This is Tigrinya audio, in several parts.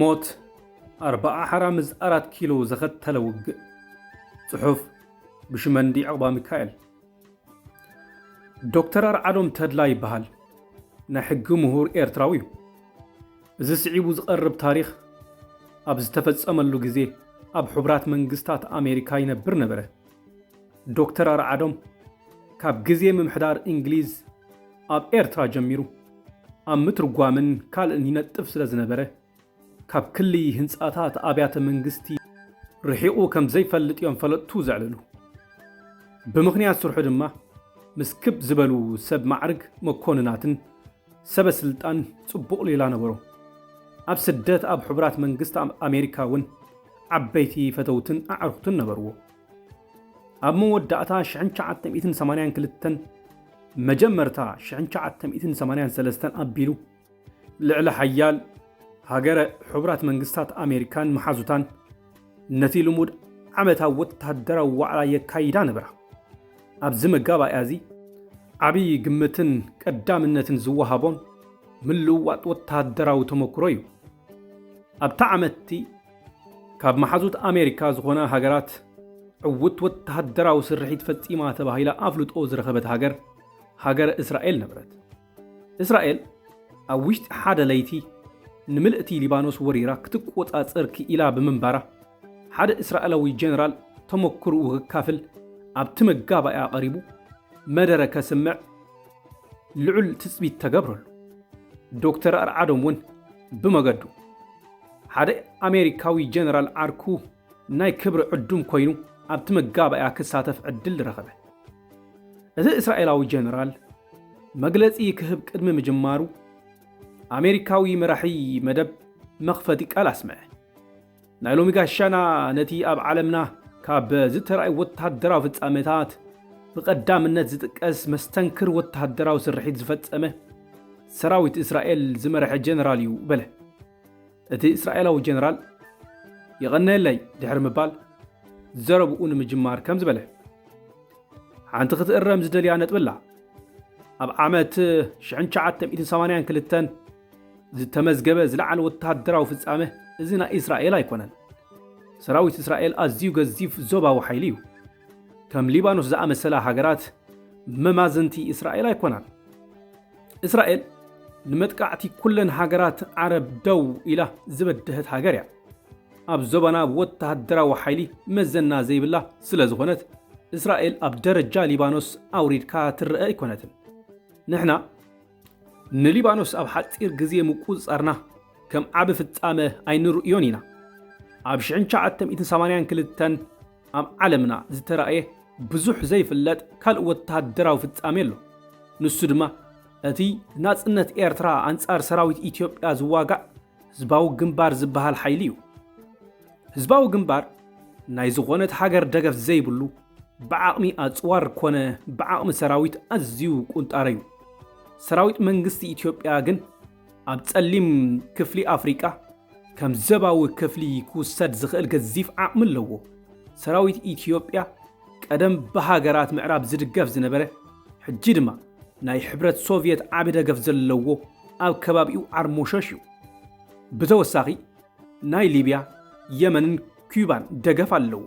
ሞት ኣርባዓ ሓራ ምስ ኣራት ኪሎ ዘኸተለ ውግእ ጽሑፍ ብሽመንዲ ዕቕባ ሚካኤል ዶክተር ኣርዓዶም ተድላ ይበሃል ናይ ሕጊ ምሁር ኤርትራዊ እዩ እዚ ስዒቡ ዝቐርብ ታሪኽ ኣብ ዝተፈጸመሉ ግዜ ኣብ ሕቡራት መንግስታት ኣሜሪካ ይነብር ነበረ ዶክተር ኣርዓዶም ካብ ግዜ ምምሕዳር እንግሊዝ ኣብ ኤርትራ ጀሚሩ ኣብ ምትርጓምን ካልእን ይነጥፍ ስለ ዝነበረ ካብ ክሊ ህንጻታት ኣብያተ መንግስቲ ርሒቑ ከም ዘይፈልጥ እዮም ፈለጥቱ ዘዕልሉ። ብምኽንያት ስርሑ ድማ ምስ ክብ ዝበሉ ሰብ ማዕርግ መኮንናትን ሰበ ስልጣን ጽቡቕ ሌላ ነበሮ። ኣብ ስደት ኣብ ሕቡራት መንግስታት ኣሜሪካ እውን ዓበይቲ ፈተውትን ኣዕሩኽትን ነበርዎ። ኣብ መወዳእታ ሽሕን ትሽዓተ ሚእትን ሰማንያን ክልተን መጀመርታ ሽሕን ትሽዓተ ሚእትን ሰማንያን ሰለስተን ኣቢሉ ልዕሊ ሓያል ሃገረ ሕቡራት መንግስታት ኣሜሪካን መሓዙታን ነቲ ልሙድ ዓመታዊ ወታደራዊ ዋዕላ የካይዳ ነበራ። ኣብዚ መጋባእያ እዚ ዓብዪ ግምትን ቀዳምነትን ዝወሃቦም ምልውዋጥ ወታደራዊ ተመክሮ እዩ። ኣብታ ዓመትቲ ካብ መሓዙት ኣሜሪካ ዝኾና ሃገራት ዕውት ወታደራዊ ስርሒት ፈጺማ ተባሂላ ኣፍልጦ ዝረኸበት ሃገር ሃገረ እስራኤል ነበረት። እስራኤል ኣብ ውሽጢ ሓደ ለይቲ ንምልእቲ ሊባኖስ ወሪራ ክትቆጻጸር ክኢላ ብምንባራ፣ ሓደ እስራኤላዊ ጀነራል ተመክሮኡ ከካፍል ኣብቲ መጋባእያ ቀሪቡ መደረ ከስምዕ ልዑል ትጽቢት ተገብረሉ። ዶክተር ኣርዓዶም እውን ብመገዱ፣ ሓደ ኣሜሪካዊ ጀነራል ዓርኩ ናይ ክብሪ ዕዱም ኮይኑ ኣብቲ መጋባእያ ክሳተፍ ዕድል ረኸበ። እቲ እስራኤላዊ ጀነራል፣ መግለጺ ክህብ ቅድሚ ምጅማሩ ኣሜሪካዊ መራሒ መደብ መኽፈቲ ቃል ኣስምዐ። ናይ ሎሚ ጋሻና ነቲ ኣብ ዓለምና ካብ ዝተራእዩ ወተሃደራዊ ፍጻመታት ብቐዳምነት ዝጥቀስ መስተንክር ወተሃደራዊ ስርሒት ዝፈጸመ ሰራዊት እስራኤል ዝመረሐ ጀነራል እዩ በለ። እቲ እስራኤላዊ ጀነራል የቐነየለይ ድሕሪ ምባል ዘረብኡ ንምጅማር ከምዚ በለ። ሓንቲ ክትእረም ዝደልያ ነጥቢ ኣላ። ኣብ ዓመት 1982 ዝተመዝገበ ዝለዓለ ወተሃደራዊ ፍጻመ እዚ ናይ እስራኤል ኣይኮነን። ሰራዊት እስራኤል ኣዝዩ ገዚፍ ዞባዊ ሓይሊ እዩ። ከም ሊባኖስ ዝኣመሰላ ሃገራት መማዝንቲ እስራኤል ኣይኮናን። እስራኤል ንመጥቃዕቲ ኩለን ሃገራት ዓረብ ደው ኢላ ዝበደሀት ሃገር እያ። ኣብ ዞባና ወተሃደራዊ ሓይሊ መዘና ዘይብላ ስለ ዝኾነት እስራኤል ኣብ ደረጃ ሊባኖስ ኣውሪድካ ትረአ ኣይኮነትን። ንሕና ንሊባኖስ ኣብ ሓፂር ግዜ ምቁፅፃርና ከም ዓቢ ፍጻመ ኣይንርእዮን ኢና። ኣብ ሽሕን ትሽዓተ ሚእትን ሰማንያን ክልተን ኣብ ዓለምና ዝተራእየ ብዙሕ ዘይፍለጥ ካልእ ወተሃደራዊ ፍጻሜ ኣሎ። ንሱ ድማ እቲ ናጽነት ኤርትራ ኣንጻር ሰራዊት ኢትዮጵያ ዝዋጋእ ህዝባዊ ግንባር ዝበሃል ሓይሊ እዩ። ህዝባዊ ግንባር ናይ ዝኾነት ሃገር ደገፍ ዘይብሉ ብዓቕሚ ኣጽዋር ኮነ ብዓቕሚ ሰራዊት ኣዝዩ ቁንጣረ እዩ። ሰራዊት መንግስቲ ኢትዮጵያ ግን ኣብ ጸሊም ክፍሊ ኣፍሪቃ ከም ዘባዊ ክፍሊ ክውሰድ ዝኽእል ገዚፍ ዓቕሚ ኣለዎ። ሰራዊት ኢትዮጵያ ቀደም ብሃገራት ምዕራብ ዝድገፍ ዝነበረ ሕጂ ድማ ናይ ሕብረት ሶቭየት ዓቢ ደገፍ ዘለዎ ኣብ ከባቢኡ ዓርሞሸሽ እዩ። ብተወሳኺ ናይ ሊብያ፣ የመንን ኲባን ደገፍ ኣለዎ።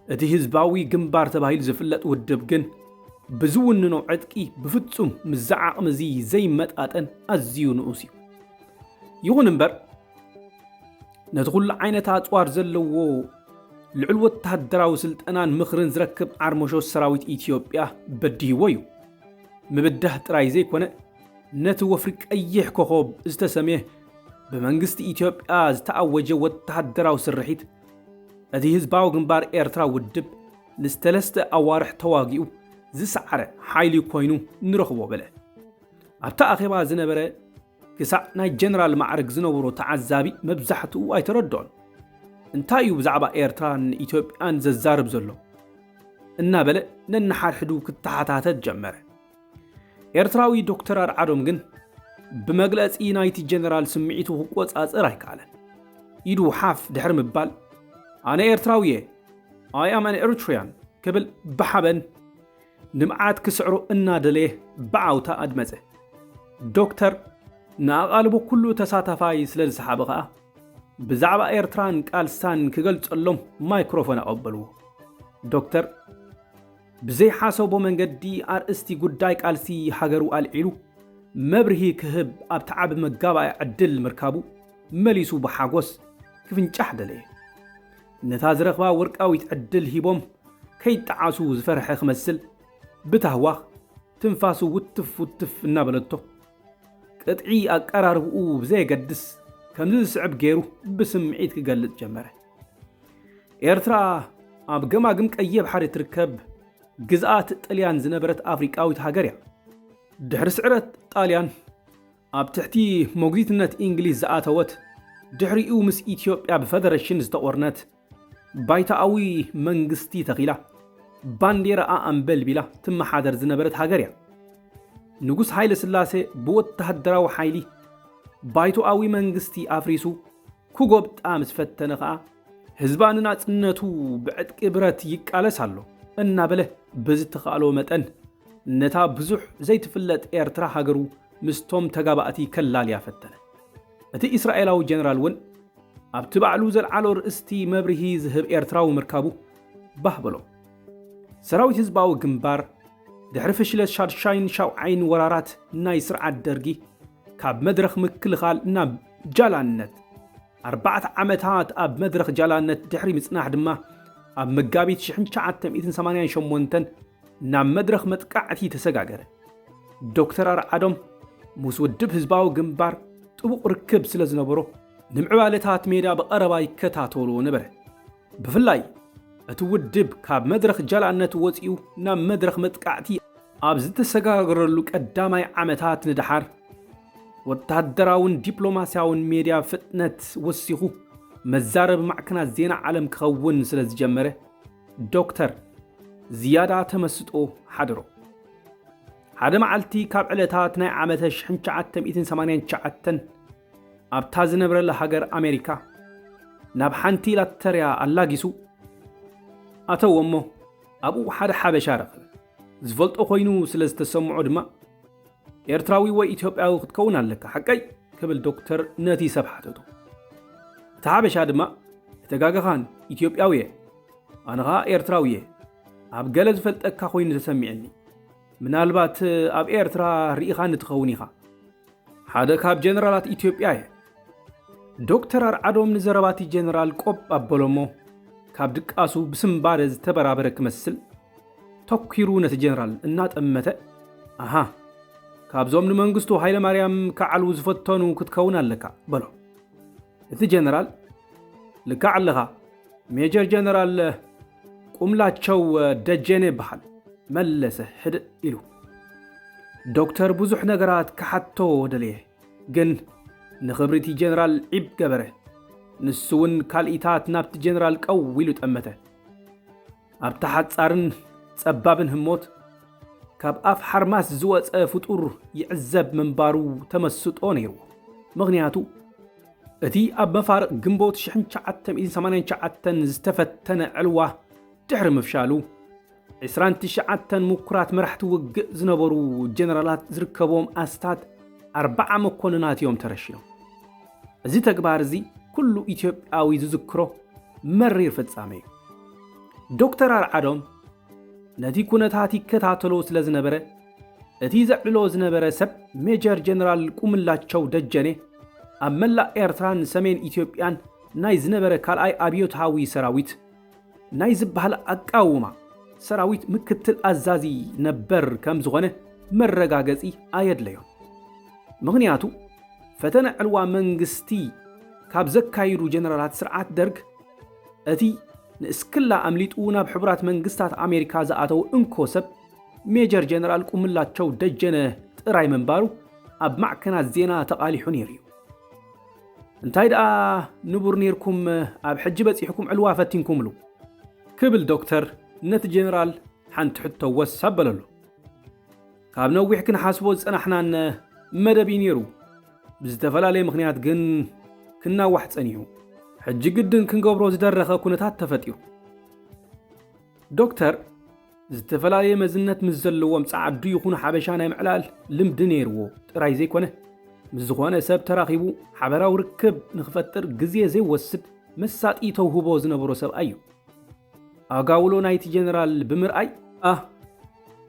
እቲ ህዝባዊ ግንባር ተባሂሉ ዝፍለጥ ውድብ ግን ብዝውንኖ ዕጥቂ ብፍጹም ምስዚ ዓቕሚ እዚ ዘይመጣጠን ኣዝዩ ንኡስ እዩ። ይኹን እምበር ነቲ ኩሉ ዓይነት ኣጽዋር ዘለዎ ልዑል ወተሃደራዊ ስልጠናን ምኽርን ዝረክብ ዓርሞሾ ሰራዊት ኢትዮጵያ በዲህዎ እዩ። ምብዳህ ጥራይ ዘይኮነ ነቲ ወፍሪ ቀይሕ ኮኾብ ዝተሰምየ ብመንግስቲ ኢትዮጵያ ዝተኣወጀ ወተሃደራዊ ስርሒት እቲ ህዝባዊ ግንባር ኤርትራ ውድብ ንዝተለስተ ኣዋርሕ ተዋጊኡ ዝሰዓረ ሓይሊ ኮይኑ ንረኽቦ በለ። ኣብቲ ኣኼባ ዝነበረ ክሳዕ ናይ ጀነራል ማዕርግ ዝነበሮ ተዓዛቢ መብዛሕትኡ ኣይተረድኦን። እንታይ እዩ ብዛዕባ ኤርትራን ኢትዮጵያን ዘዛርብ ዘሎ? እናበለ ነንሓድሕዱ ክተሓታተት ጀመረ። ኤርትራዊ ዶክተር ኣርዓዶም ግን ብመግለጺ ናይቲ ጀነራል ስምዒቱ ክቆጻጸር ኣይከኣለን። ኢዱ ሓፍ ድሕሪ ምባል ኣነ ኤርትራዊ እየ ኣይ ኣም ኣን ኤሪትሪያን ክብል ብሓበን ልምዓት ክስዕሮ እናደለየ ብዓውታ ኣድመፀ። ዶክተር ንኣቓልቦ ኩሉ ተሳታፋይ ስለ ዝሰሓበ ከኣ ብዛዕባ ኤርትራን ቃልሳን ክገልጸሎም ማይክሮፎን ኣቐበልዎ። ዶክተር ብዘይሓሰቦ መንገዲ ኣርእስቲ ጉዳይ ቃልሲ ሃገሩ ኣልዒሉ መብርሂ ክህብ ኣብቲ ዓቢ መጋባእያ ዕድል ምርካቡ መሊሱ ብሓጎስ ክፍንጫሕ ደለየ። ነታ ዝረኽባ ወርቃዊት ዕድል ሂቦም ከይጠዓሱ ዝፈርሐ ክመስል ብታህዋኽ ትንፋሱ ውትፍ ውትፍ እናበለቶ ቅጥዒ ኣቀራርብኡ ብዘየገድስ ከምዚ ዝስዕብ ገይሩ ብስምዒት ክገልጽ ጀመረ። ኤርትራ ኣብ ገማግም ቀይሕ ባሕሪ ትርከብ ግዝኣት ጥልያን ዝነበረት ኣፍሪቃዊት ሃገር እያ። ድሕሪ ስዕረት ጣልያን ኣብ ትሕቲ ሞግዚትነት ኢንግሊዝ ዝኣተወት ድሕሪኡ ምስ ኢትዮጵያ ብፈደረሽን ዝተቖርነት ባይቶኣዊ መንግስቲ ተኺላ ባንዴራኣ ኣንበልቢላ ትመሓደር ዝነበረት ሃገር እያ። ንጉስ ሃይለስላሴ ብወተሃደራዊ ሓይሊ ባይቶኣዊ መንግስቲ ኣፍሪሱ ክጎብጣ ምስ ፈተነ ከኣ፣ ህዝባ ንናጽነቱ ብዕጥቂ ብረት ይቃለስ ኣሎ እናበለ ብዝተኻእሎ መጠን ነታ ብዙሕ ዘይትፍለጥ ኤርትራ ሃገሩ ምስቶም ተጋባእቲ ከላልያ ፈተነ። እቲ እስራኤላዊ ጀነራል እውን ኣብቲ ባዕሉ ዘልዓሎ ርእስቲ መብርሂ ዝህብ ኤርትራዊ ምርካቡ ባህ በሎ። ሰራዊት ህዝባዊ ግንባር ድሕሪ ፍሽለት ሻድሻይን ሻውዓይን ወራራት ናይ ስርዓት ደርጊ ካብ መድረኽ ምክልኻል ናብ ጃላነት ኣርባዕተ ዓመታት ኣብ መድረኽ ጃላነት ድሕሪ ምጽናሕ ድማ ኣብ መጋቢት ሽሕን ትሽዓተ ሚእትን ሰማንያን ሸሞንተን ናብ መድረኽ መጥቃዕቲ ተሰጋገረ። ዶክተር ኣርዓዶም ምስ ውድብ ህዝባዊ ግንባር ጥቡቕ ርክብ ስለ ዝነበሮ ንምዕባለታት ሜዳ ብቐረባ ይከታተሎ ነበረ። ብፍላይ እቲ ውድብ ካብ መድረኽ ጀላነት ወጺኡ ናብ መድረኽ መጥቃዕቲ ኣብ ዝተሰጋገረሉ ቀዳማይ ዓመታት ንደሓር፣ ወተሃደራውን ዲፕሎማስያውን ሜድያ ፍጥነት ወሲኹ መዛረቢ ማዕከናት ዜና ዓለም ክኸውን ስለ ዝጀመረ፣ ዶክተር ዝያዳ ተመስጦ ሓደሮ። ሓደ መዓልቲ ካብ ዕለታት ናይ ዓመተ ሽሕን ትሽዓተ ሚእትን ሰማንያን ትሽዓተን፣ ኣብታ ዝነብረላ ሃገር ኣሜሪካ ናብ ሓንቲ ላተርያ ኣላጊሱ ኣተዎ እሞ ኣብኡ ሓደ ሓበሻ ረኸበ። ዝፈልጦ ኮይኑ ስለ ዝተሰምዖ ድማ ኤርትራዊ ወይ ኢትዮጵያዊ ክትከውን ኣለካ ሓቀይ ክብል ዶክተር ነቲ ሰብ ሓተቶ። እቲ ሓበሻ ድማ እተጋገኻን ኢትዮጵያዊ እየ ኣነ ኸኣ ኤርትራዊ እየ ኣብ ገለ ዝፈልጠካ ኮይኑ ተሰሚዕኒ ምናልባት ኣብ ኤርትራ ርኢኻኒ ትኸውን ኢኻ ሓደ ካብ ጀነራላት ኢትዮጵያ እየ። ዶክተር ኣርዓዶም ንዘረባቲ ጀነራል ቆብ ኣበሎሞ ካብ ድቃሱ ብስምባደ ዝተበራበረ ክመስል ተኲሩ ነቲ ጀነራል እናጠመተ ኣሃ ካብዞም ንመንግስቱ ሃይለማርያም ክዓልዉ ዝፈተኑ ክትከውን ኣለካ በሎ እቲ ጀነራል ልካዕ ኣለኻ ሜጀር ጀነራል ቁምላቸው ደጀኔ እብሃል መለሰ ህድእ ኢሉ። ዶክተር ብዙሕ ነገራት ክሓትቶ ደለየ፣ ግን ንኽብሪቲ ጀነራል ዒብ ገበረ። ንሱውን ካልኢታት ናብቲ ጀነራል ቀው ኢሉ ጠመተ። ኣብታ ሓጻርን ጸባብን ህሞት ካብ ኣፍ ሓርማስ ዝወጸ ፍጡር ይዕዘብ ምንባሩ ተመስጦ ነይርዎ። ምኽንያቱ እቲ ኣብ መፋርቕ ግንቦት ሽሕን ትሽዓተ ሚእትን ሰማንያን ትሽዓተን ዝተፈተነ ዕልዋ ድሕሪ ምፍሻሉ፣ ዕስራን ትሽዓተን ምኩራት መራሕቲ ውግእ ዝነበሩ ጀነራላት ዝርከብዎም ኣስታት ኣርብዓ መኮንናት እዮም ተረሺኖም። እዚ ተግባር እዚ ኩሉ ኢትዮጵያዊ ዝዝክሮ መሪር ፍጻሜ እዩ። ዶክተር ኣርዓዶም ነቲ ኩነታት ይከታተሎ ስለ ዝነበረ እቲ ዘዕልሎ ዝነበረ ሰብ ሜጀር ጀነራል ቁምላቸው ደጀኔ ኣብ መላእ ኤርትራን ሰሜን ኢትዮጵያን ናይ ዝነበረ ካልኣይ ኣብዮትሃዊ ሰራዊት ናይ ዝበሃል ኣቃውማ ሰራዊት ምክትል ኣዛዚ ነበር ከም ዝኾነ መረጋገጺ ኣየድለዮን። ምኽንያቱ ፈተነ ዕልዋ መንግስቲ ካብ ዘካይዱ ጀነራላት ስርዓት ደርግ እቲ ንእስክላ ኣምሊጡ ናብ ሕቡራት መንግስታት ኣሜሪካ ዝኣተው እንኮ ሰብ ሜጀር ጀነራል ቁምላቸው ደጀነ ጥራይ ምንባሩ ኣብ ማዕከናት ዜና ተቓሊሑ ነይሩ እዩ። እንታይ ደኣ ንቡር ነይርኩም ኣብ ሕጂ በጺሕኩም ዕልዋ ፈቲንኩምሉ ክብል ዶክተር ነቲ ጀነራል ሓንቲ ሕቶ ወስ ኣበለሉ። ካብ ነዊሕ ክንሓስቦ ዝጸናሕናን መደብ እዩ ነይሩ። ብዝተፈላለየ ምኽንያት ግን ክናዋሕ ጸኒሑ ሕጂ ግድን ክንገብሮ ዝደረኸ ኩነታት ተፈጢሩ ዶክተር ዝተፈላለየ መዝነት ምስ ዘለዎም ጸዓዱ ይኹኑ ሓበሻ ናይ ምዕላል ልምዲ ነይርዎ ጥራይ ዘይኮነ፣ ምስ ዝኾነ ሰብ ተራኺቡ ሓበራዊ ርክብ ንክፈጥር ግዜ ዘይወስድ መሳጢ ተውህቦ ዝነበሮ ሰብኣይ እዩ። ኣጋውሎ ናይቲ ጀነራል ብምርኣይ ኣህ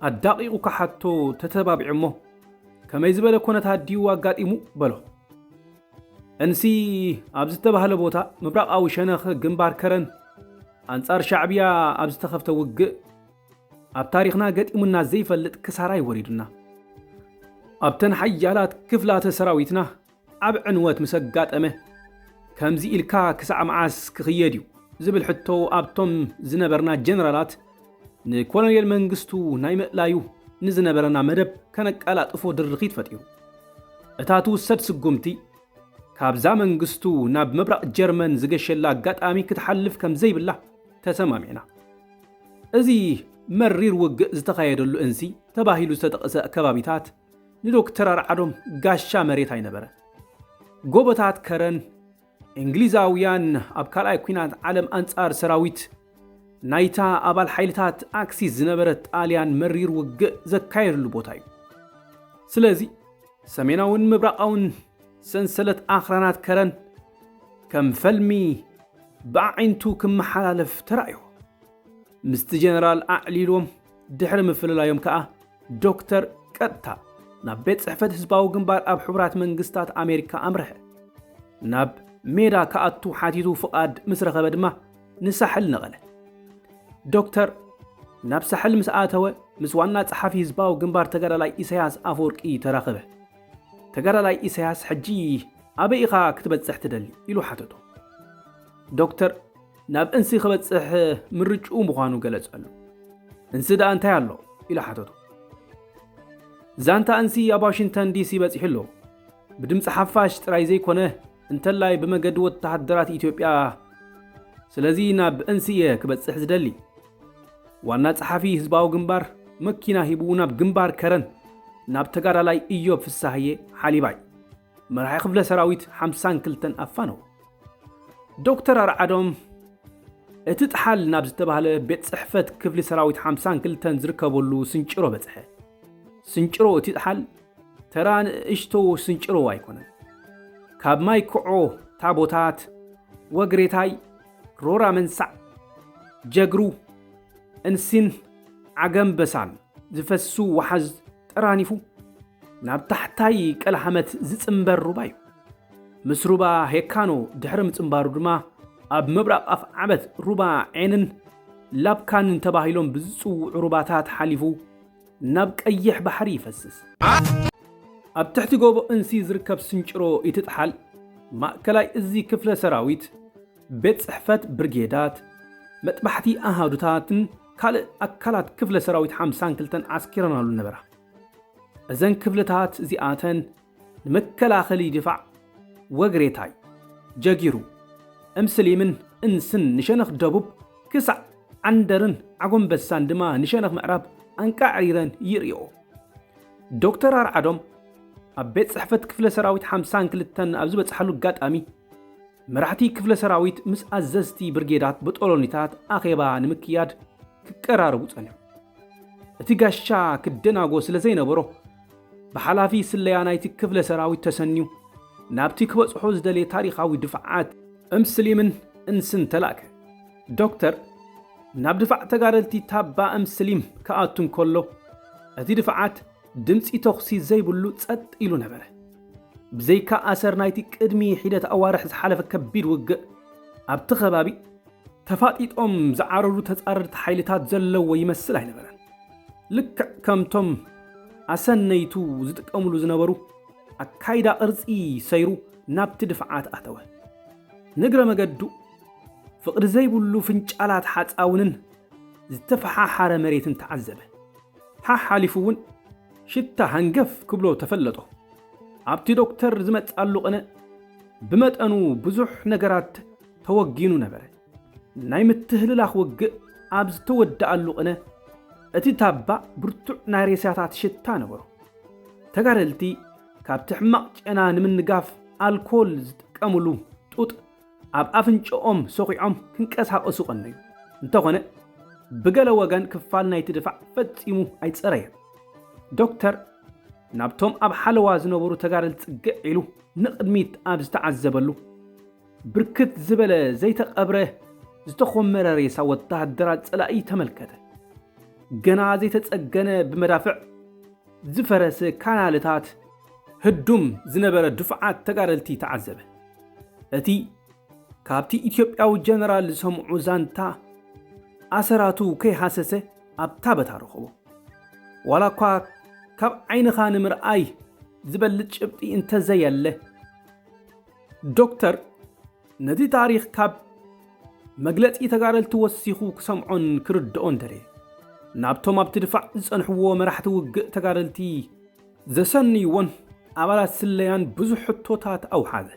ኣዳቒቑ ክሓቶ ተተባቢዑ'ሞ ከመይ ዝበለ ኮነታት ድዩ ኣጋጢሙ? በሎ። እንሲ ኣብ ዝተባህለ ቦታ ምብራቓዊ ሸነኽ ግንባር ከረን ኣንጻር ሻዕብያ ኣብ ዝተኸፍተ ውግእ ኣብ ታሪኽና ገጢሙና ዘይፈልጥ ክሳራ እዩ ወሪዱና። ኣብተን ሓያላት ክፍላተ ሰራዊትና ዓብ ዕንወት ምስ ኣጋጠመ ከምዚ ኢልካ ክሳዕ መዓስ ክኽየድ እዩ ዝብል ሕቶ ኣብቶም ዝነበርና ጀነራላት ንኮሎኔል መንግስቱ ናይ ምእላዩ ንዝነበረና መደብ ከነቀላጥፎ ድርኺት ፈጢሩ። እታ ትውሰድ ስጉምቲ ካብዛ መንግስቱ ናብ ምብራቕ ጀርመን ዝገሸላ ኣጋጣሚ ክትሓልፍ ከም ዘይብላ ተሰማሚዕና። እዚ መሪር ውግእ ዝተኻየደሉ እንሲ ተባሂሉ ዝተጠቕሰ ከባቢታት ንዶክተር ኣርዓዶም ጋሻ መሬት ኣይነበረን። ጎቦታት ከረን፣ እንግሊዛውያን ኣብ ካልኣይ ኲናት ዓለም ኣንጻር ሰራዊት ናይታ ኣባል ሓይልታት ኣክሲስ ዝነበረት ጣልያን መሪር ውግእ ዘካየድሉ ቦታ እዩ። ስለዚ ሰሜናውን ምብራቓውን ሰንሰለት ኣኽራናት ከረን ከም ፈልሚ ብኣዒንቱ ክመሓላለፍ ተራእዮ ምስቲ ጀነራል ኣዕሊሎም ድሕሪ ምፍልላዮም ከኣ ዶክተር ቀጥታ ናብ ቤት ጽሕፈት ህዝባዊ ግንባር ኣብ ሕቡራት መንግስታት ኣሜሪካ ኣምርሐ ናብ ሜዳ ክኣቱ ሓቲቱ ፍቓድ ምስ ረኸበ ድማ ንሳሕል ነቐለ። ዶክተር ናብ ሳሕል ምስ ኣተወ ምስ ዋና ጸሓፊ ህዝባዊ ግንባር ተጋዳላይ ኢሳያስ ኣፈወርቂ ተራኸበ። ተጋዳላይ ኢሳያስ ሕጂ ኣበይ ኢኻ ክትበጽሕ ትደሊ? ኢሉ ሓተቶ። ዶክተር ናብ እንሲ ክበጽሕ ምርጭኡ ምዃኑ ገለጸሉ። እንሲ ደኣ እንታይ ኣሎ? ኢሉ ሓተቶ። ዛንታ እንሲ ኣብ ዋሽንግተን ዲሲ በጺሑ ኣሎ። ብድምፂ ሓፋሽ ጥራይ ዘይኮነ እንተላይ ብመገዲ ወተሃደራት ኢትዮጵያ ስለዚ ናብ እንስ እየ ክበጽሕ ዝደሊ። ዋና ጸሓፊ ህዝባዊ ግንባር መኪና ሂቡ ናብ ግንባር ከረን ናብ ተጋዳላይ እዮብ ፍሳሃዬ ሓሊባይ መራሒ ክፍለ ሰራዊት ሓምሳን ክልተን ኣፋነው። ዶክተር ኣርዓዶም እቲ ጥሓል ናብ ዝተባህለ ቤት ጽሕፈት ክፍሊ ሰራዊት ሓምሳን ክልተን ዝርከበሉ ስንጭሮ በጽሐ። ስንጭሮ እቲ ጥሓል ተራ ንእሽቶ ስንጭሮ ኣይኮነን። ካብ ማይ ክዖ ታቦታት ወግሬታይ ሮራ መንሳዕ ጀግሩ እንሲን ዓገምበሳን ዝፈስሱ ወሓዝ ጠራኒፉ ናብ ታሕታይ ቀልሃመት ዝጽንበር ሩባ እዩ። ምስ ሩባ ሄካኖ ድሕሪ ምጽንባሩ ድማ ኣብ ምብራቕ ኣፍዓበት ሩባ ዔንን ላብካንን ተባሂሎም ብዝጽውዑ ሩባታት ሓሊፉ ናብ ቀይሕ ባሕሪ ይፈስስ። ኣብ ትሕቲ ጎቦ እንሲ ዝርከብ ስንጭሮ ኢትጥሓል ማእከላይ እዚ ክፍለ ሰራዊት፣ ቤት ጽሕፈት ብርጌዳት፣ መጥባሕቲ ኣሃዱታትን ካልእ ኣካላት ክፍለ ሰራዊት ሓምሳን ክልተን ዓስኪረናሉ ነበራ። እዘን ክፍልታት እዚኣተን ንመከላኸሊ ድፋዕ ወግሬታይ ጀጊሩ እምስሊምን እንስን ንሸነኽ ደቡብ ክሳዕ ዓንደርን ዓጎምበሳን ድማ ንሸነኽ ምዕራብ ኣንቃዕሪረን ይርእይኦ። ዶክተር ኣርዓዶም ኣብ ቤት ጽሕፈት ክፍለ ሰራዊት ሓምሳን ክልተን ኣብ ዝበጽሓሉ ኣጋጣሚ፣ መራሕቲ ክፍለ ሰራዊት ምስ ኣዘዝቲ ብርጌዳት በጦሎኒታት ኣኼባ ንምክያድ ክቀራረቡ ጸንሑ። እቲ ጋሻ ክደናጎ ስለ ዘይነበሮ ብሓላፊ ስለያ ናይቲ ክፍለ ሰራዊት ተሰንዩ ናብቲ ክበጽሖ ዝደልየ ታሪኻዊ ድፍዓት እምስሊምን እንስን ተላእከ። ዶክተር ናብ ድፋዕ ተጋደልቲ ታባ እምስሊም ክኣቱ እንከሎ እቲ ድፍዓት ድምጺ ተኹሲ ዘይብሉ ጸጥ ኢሉ ነበረ። ብዘይካ ኣሰር ናይቲ ቅድሚ ሒደት ኣዋርሕ ዝሓለፈ ከቢድ ውግእ፣ ኣብቲ ከባቢ ተፋጢጦም ዝዓረሩ ተጻረርቲ ሓይልታት ዘለዎ ይመስል ኣይነበረን። ልክዕ ከምቶም ኣሰነይቱ ዝጥቀምሉ ዝነበሩ፣ ኣካይዳ ቅርጺ ሰይሩ ናብቲ ድፍዓት ኣተወ። ንእግረ መገዱ ፍቕዲ ዘይብሉ ፍንጫላት ሓጻውንን ዝተፈሓሓረ መሬትን ተዓዘበ። ሓሓሊፉ እውን ሽታ ሃንገፍ ክብሎ ተፈለጦ። ኣብቲ ዶክተር ዝመጽኣሉ ቅነ ብመጠኑ ብዙሕ ነገራት ተወጊኑ ነበረ። ናይ ምትህልላኽ ውግእ ኣብ ዝተወደኣሉ ቅነ እቲ ታባ ብርቱዕ ናይ ሬሳታት ሽታ ነበሮ። ተጋደልቲ ካብቲ ሕማቕ ጨና ንምንጋፍ ኣልኮል ዝጥቀምሉ ጡጥ ኣብ ኣፍንጭኦም ሰዂዖም ክንቀሳቐሱ ቀነዩ። እንተኾነ ብገለ ወገን ክፋል ናይቲ ድፋዕ ፈጺሙ ኣይጸረየን። ዶክተር ናብቶም ኣብ ሓለዋ ዝነበሩ ተጋደልቲ ጽግዕ ኢሉ ንቕድሚት ኣብ ዝተዓዘበሉ፣ ብርክት ዝበለ ዘይተቐብረ ዝተኾመረ ሬሳ ወተሃደራት ጸላኢ ተመልከተ። ገና ዘይተጸገነ ብመዳፍዕ ዝፈረሰ ካናልታት፣ ህዱም ዝነበረ ድፋዓት ተጋደልቲ ተዓዘበ። እቲ ካብቲ ኢትዮጵያዊ ጀነራል ዝሰምዑ ዛንታ ኣሰራቱ ከይሃሰሰ ኣብ ታበታ ረኸቦ። ዋላ እኳ ካብ ዓይንኻ ንምርኣይ ዝበልፅ ጭብጢ እንተዘየለ ዶክተር ነቲ ታሪኽ ካብ መግለፂ ተጋደልቲ ወሲኹ ክሰምዖን ክርድኦን ደለየ። ናብቶም ኣብቲ ድፋዕ ዝፀንሕዎ መራሕቲ ውግእ ተጋደልቲ ዘሰንይዎን ኣባላት ስለያን ብዙሕ ሕቶታት ኣውሓዘ።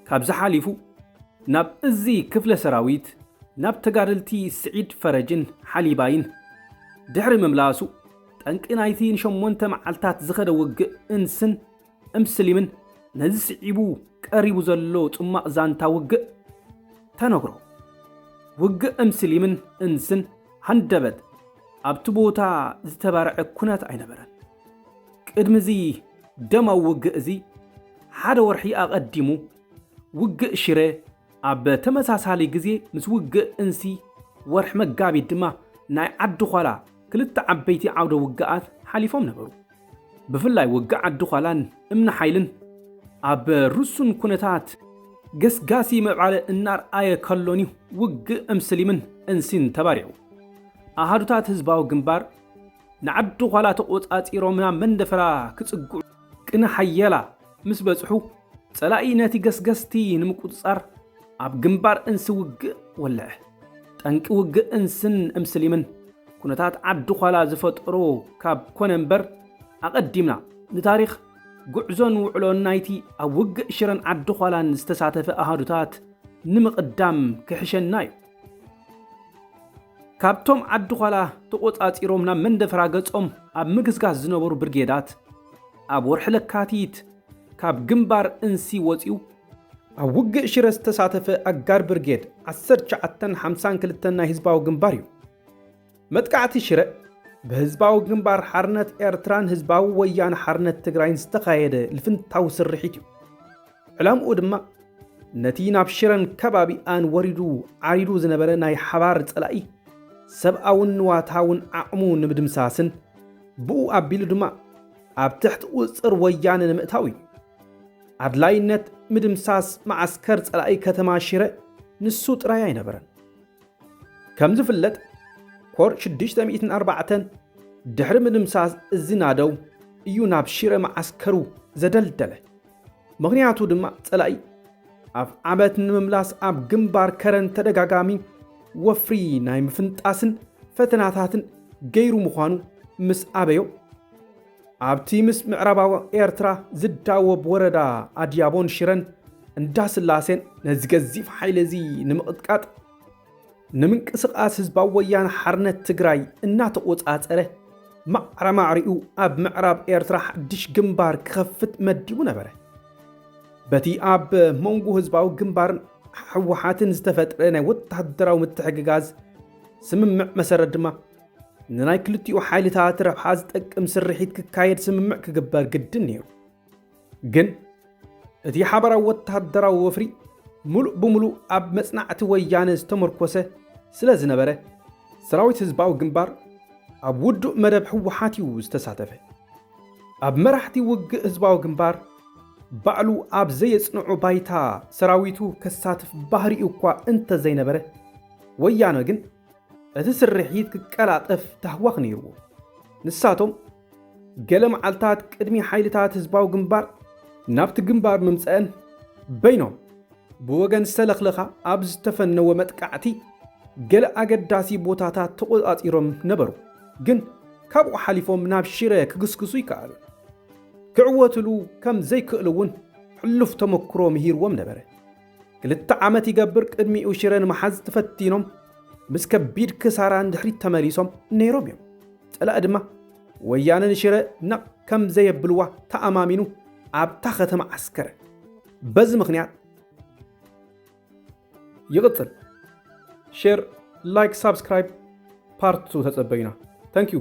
ካብዚ ሓሊፉ ናብ እዚ ክፍለ ሰራዊት ናብ ተጋደልቲ ስዒድ ፈረጅን ሓሊባይን ድሕሪ ምምላሱ ጠንቂ ናይቲ ንሸሞንተ መዓልታት ዝኸደ ውግእ እንስን እምስሊምን ነዚ ስዒቡ ቀሪቡ ዘሎ ጽሟቕ ዛንታ ውግእ ተነግሮ። ውግእ እምስሊምን እንስን ሃንደበት ኣብቲ ቦታ ዝተባርዐ ኩነት ኣይነበረን። ቅድሚ እዚ ደማዊ ውግእ እዚ ሓደ ወርሒ ኣቐዲሙ ውግእ ሽረ ኣብ ተመሳሳሊ ግዜ ምስ ውግእ እንሲ ወርሒ መጋቢት ድማ ናይ ዓዲ ዃላ ክልተ ዓበይቲ ዓውደ ውግኣት ሓሊፎም ነበሩ። ብፍላይ ውግእ ዓዲ ዃላን እምኒ ሓይልን ኣብ ርሱን ኩነታት ገስጋሲ ምዕባለ እናርኣየ ከሎን'ዩ ውግእ እምስሊምን እንሲን ተባሪዑ። ኣሃዱታት ህዝባዊ ግንባር ንዓዲ ዃላ ተቖጻጺሮም ናብ መንደፈራ ክጽግዑ ቅነ ሓየላ ምስ በጽሑ፣ ጸላኢ ነቲ ገስገስቲ ንምቁጽጻር ኣብ ግንባር እንሲ ውግእ ወልዐ። ጠንቂ ውግእ እንስን እምስሊምን፣ ኩነታት ዓዲ-ዃላ ዝፈጠሮ ካብ ኮነ እምበር፣ ኣቐዲምና፣ ንታሪኽ፣ ጉዕዞን ውዕሎን ናይቲ ኣብ ውግእ ሽረን ዓዲ-ዃላን ዝተሳተፈ ኣሃዱታት ንምቕዳም ክሕሸና እዩ። ካብቶም ዓዲ ዃላ ተቖጻጺሮም ናብ መንደፈራ ገጾም ኣብ ምግስጋስ ዝነበሩ ብርጌዳት፣ ኣብ ወርሒ ለካቲት ካብ ግንባር እንሲ ወጺኡ፣ ኣብ ውግእ ሽረ ዝተሳተፈ ኣጋር ብርጌድ ዓሰርተ ትሽዓተን ሓምሳን ክልተን ናይ ህዝባዊ ግንባር እዩ። መጥቃዕቲ ሽረ ብህዝባዊ ግንባር ሓርነት ኤርትራን ህዝባዊ ወያነ ሓርነት ትግራይን ዝተኻየደ ልፍንታዊ ስርሒት እዩ። ዕላምኡ ድማ ነቲ ናብ ሽረን ከባቢኣን ወሪዱ ዓሪዱ ዝነበረ ናይ ሓባር ጸላኢ ሰብኣውን ንዋታውን ዓቕሙ ንምድምሳስን ብኡ ኣቢሉ ድማ ኣብ ትሕቲ ቁጽጽር ወያነ ንምእታው እዩ። ኣድላይነት ምድምሳስ መዓስከር ጸላኢ ከተማ ሽረ ንሱ ጥራይ ኣይነበረን። ከም ዝፍለጥ ኮር 604 ድሕሪ ምድምሳስ እዚ ናደው እዩ ናብ ሽረ መዓስከሩ ዘደልደለ። ምኽንያቱ ድማ ጸላኢ ኣብ ዓመት ንምምላስ ኣብ ግንባር ከረን ተደጋጋሚ ወፍሪ ናይ ምፍንጣስን ፈተናታትን ገይሩ ምዃኑ ምስ ኣበዮ ኣብቲ ምስ ምዕራባዊ ኤርትራ ዝዳወብ ወረዳ ኣድያቦን ሽረን እንዳስላሴን ነዚ ገዚፍ ሓይሊ እዚ ንምቕጥቃጥ ንምንቅስቓስ ህዝባዊ ወያነ ሓርነት ትግራይ እናተቖጻጸረ ማዕረማዕሪኡ ኣብ ምዕራብ ኤርትራ ሓድሽ ግንባር ክኸፍት መዲቡ ነበረ። በቲ ኣብ መንጎ ህዝባዊ ግንባርን ሕወሓትን ዝተፈጥረ ናይ ወተሃደራዊ ምትሕግጋዝ ስምምዕ መሰረት ድማ ንናይ ክልቲኡ ሓይልታት ረብሓ ዝጠቅም ስርሒት ክካየድ ስምምዕ ክግበር ግድን ነይሩ። ግን እቲ ሓበራዊ ወተሃደራዊ ወፍሪ ምሉእ ብምሉእ ኣብ መጽናዕቲ ወያነ ዝተመርኮሰ ስለ ዝነበረ ሰራዊት ህዝባዊ ግንባር ኣብ ውዱእ መደብ ህወሓት እዩ ዝተሳተፈ። ኣብ መራሕቲ ውግእ ህዝባዊ ግንባር ባዕሉ ኣብ ዘየጽንዑ ባይታ ሰራዊቱ ከሳትፍ ባህሪኡ እኳ እንተዘይነበረ ወያነ ግን እቲ ስርሒት ክቀላጠፍ ታህዋኽ ነይርዎ። ንሳቶም ገለ መዓልታት ቅድሚ ሓይልታት ህዝባዊ ግንባር ናብቲ ግንባር ምምጸእን በይኖም ብወገን ሰለኽለኻ ኣብ ዝተፈነወ መጥቃዕቲ ገለ ኣገዳሲ ቦታታት ተቖጻጺሮም ነበሩ። ግን ካብኡ ሓሊፎም ናብ ሽረ ክግስግሱ ይከኣሉ ክዕወትሉ ከም ዘይክእሉ እውን ሕሉፍ ተመክሮ ምሂርዎም ነበረ። ክልተ ዓመት ይገብር ቅድሚኡ ሽረ ንምሓዝ ተፈቲኖም ምስ ከቢድ ክሳራ ንድሕሪት ተመሊሶም ነይሮም እዮም። ፀላኢ ድማ ወያነ ንሽረ ነቕ ከም ዘየብልዋ ተኣማሚኑ ኣብታ ከተማ ዓስከረ። በዚ ምክንያት ይቕፅል። ሼር፣ ላይክ፣ ሳብስክራይብ ፓርት ተፀበዩና። ተንኪዩ